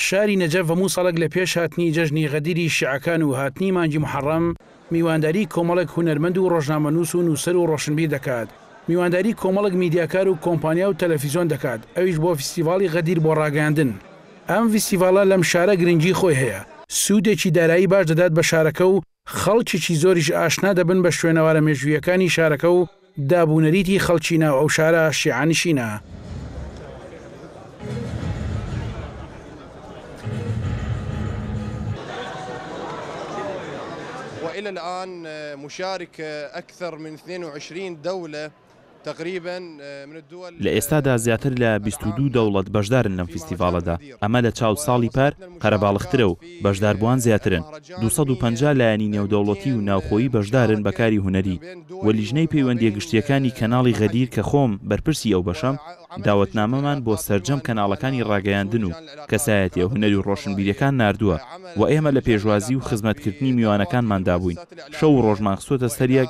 شاری نەجەف هەموو ساڵێک لە پێش هاتنی جەژنی غەدیری شیعەکان و هاتنی مانگی موحەڕەم، میوانداریی کۆمەڵێک هونەرمەند و ڕۆژنامەنووس و نووسەر و ڕۆشنبیر دەکات، میوانداریی کۆمەڵێک میدیاکار و کۆمپانیا و تەلەفیزۆن دەکات، ئەویش بۆ فیستیڤاڵی غەدیر بۆ ڕاگەیاندن. ئەم فیستیڤاڵە لەم شارە گرنگیی خۆی هەیە، سوودێکی دارایی باش دەدات بە شارەکە و خەڵکێکی زۆریش ئاشنا دەبن بە شوێنەوارە مێژوویەکانی شارەکە و داب و نەریتی خەڵکی ناو ئەو شارە شیعەنشینە. لە ئێستادا زیاتر لە بیست و دوو دەوڵەت بەشدارن لەم فیستیڤاڵەدا، ئەمە لە چاو ساڵی پار قەرەباڵغترە و بەشداربووان زیاترن، دوو سەد و پەنجا لایەنی نێودەوڵەتی و ناوخۆیی بەشدارن بە کاری هونەری و لیژنەی پەیوەندییە گشتییەکانی کەناڵی غەدیر کە خۆم بەرپرسی ئەو بەشەم داوەتنامەمان بۆ سەرجەم کەناڵەکانی ڕاگەیاندن و کەسایەتییە هونەری و ڕۆشنبیرییەکان ناردووە و ئێمە لە پێشوازی و خزمەتکردنی میوانەکانماندا بووین شەو و ڕۆژمان خستووەتە سەر یەک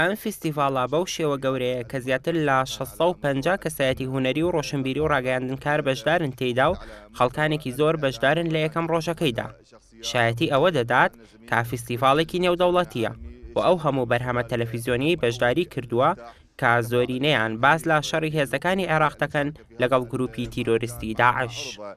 ئەم فیستیڤاڵە بەو شێوە گەورەیە کە زیاتر لە شەش سەد و پەنجا کەسایەتی هونەری و ڕۆشنبیری و ڕاگەیاندنکار بەشدارن تێیدا و خەڵکانێکی زۆر بەشدارن لە یەکەم ڕۆژەکەیدا شایەتی ئەوە دەدات کە فیستیڤاڵێکی نێودەوڵەتییە و ئەو هەموو بەرهەمە تەلەفیزیۆنیەی بەشداری کردووە کە زۆرینەیان باس لە شەڕی هێزەکانی عێراق دەکەن لەگەڵ گرووپی تیرۆریستی داعش.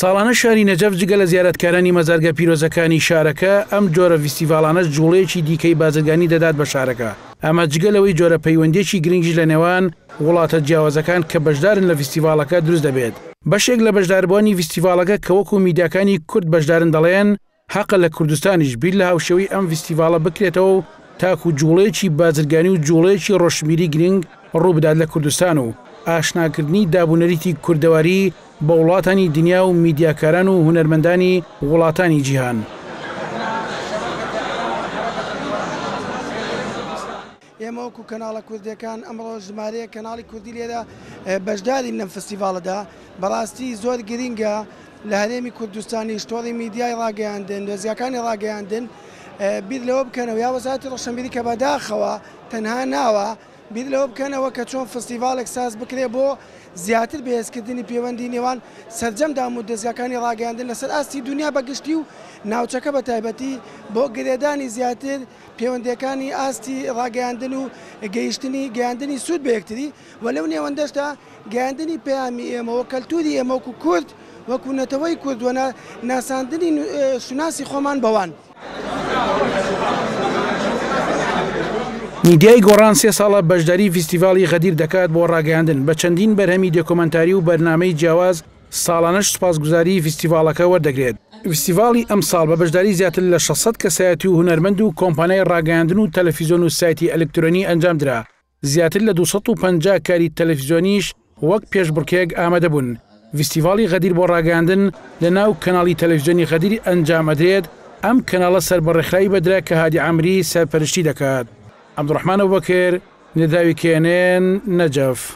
ساڵانە شاری نەجەف جگە لە زیارەتکارانی مەزارگە پیرۆزەکانی شارەکە، ئەم جۆرە ڤیستیڤاڵانەش جوڵەیەکی دیکەی بازرگانی دەدات بە شارەکە، ئەمە جگە لەوەی جۆرە پەیوەندییەکی گرنگیش لە نێوان وڵاتە جیاوازەکان کە بەشدارن لە ڤیستیڤاڵەکە دروست دەبێت. بەشێک لە بەشداربووانی ڤیستیڤاڵەکە کە وەکو میدیاکانی کورد بەشدارن دەڵێن، هەقە لە کوردستانیش بیر لە هاوشێوەی ئەم ڤیستیڤاڵە بکرێتەوە و تاکوو جووڵەیەکی بازرگانی و جووڵەیەکی ڕۆشنبیری گرینگ ڕوو بدات لە کوردستان و ئاشناکردنی داب و نەریتی کوردەواری بە وڵاتانی دنیا و میدیاکاران و هونەرمەندانی وڵاتانی جیهان. ئێمە وەکو کەناڵە کوردیەکان ئەمڕۆ ژمارەیەک کەناڵی کوردی لێرە بەشدارین لەم فستیڤاڵەدا بەڕاستی زۆر گرینگە لە هەرێمی کوردستانیش تۆڕی میدیای ڕاگەیاندن دۆزیاکانی ڕاگەیاندن بیر لەوە بکەنەوە یا وەزاتی ڕۆشنبیری کە بەداخەوە تەنها ناوە بیر لەوە بکەنەوە کە چۆن فستیڤاڵێک ساز بکرێ بۆ زیاتر بەهێزکردنی پەیوەندی نێوان سەرجەم دام و دەزگاکانی ڕاگەیاندن لەسەر ئاستی دنیا بەگشتی و ناوچەکە بە تایبەتی بۆ گرێدانی زیاتر پێوەندییەکانی ئاستی ڕاگەیاندن و گەیشتنی گەیاندنی سوود بە یەکتری و لەو نێوەندەشدا گەیاندنی پەیامی ئێمە و کەلتووری ئێمە وەکوو کورد وەکوو نەتەوەی کورد و ناساندنی شوناسی خۆمان بەوان. میدیای گۆڕان سێ ساڵە بەشداری فیستیڤاڵی غەدیر دەکات بۆ ڕاگەیاندن بە چەندین بەرهەمی دێکۆمەنتاری و بەرنامەی جیاواز، ساڵانەش سوپاسگوزاریی فیستیڤاڵەکە وەردەگرێت. فیستیڤاڵی ئەمساڵ بە بەشداری زیاتر لە شەش سەد کەسایەتی و هونەرمەند و کۆمپانیای ڕاگەیاندن و تەلەفیزۆن و سایتی ئەلکترۆنی ئەنجامدرا، زیاتر لە دوو سەد و پەنجا کاری تەلەفیزۆنیش وەک پێشبڕکێک ئامادەبوون. ڤیستیڤاڵی غەدیر بۆ ڕاگەیاندن لەناو کەناڵی تەلەفیزۆنی غەدیر ئەنجامئەدرێت، ئەم کەناڵە سەر بە ڕێکخراوی بەدرە کە هادی عامری سەرپەرشتی دەکات. عەبدوڕەحمان ئەبوبەکر، نداوی، کێنێن، نەجەف.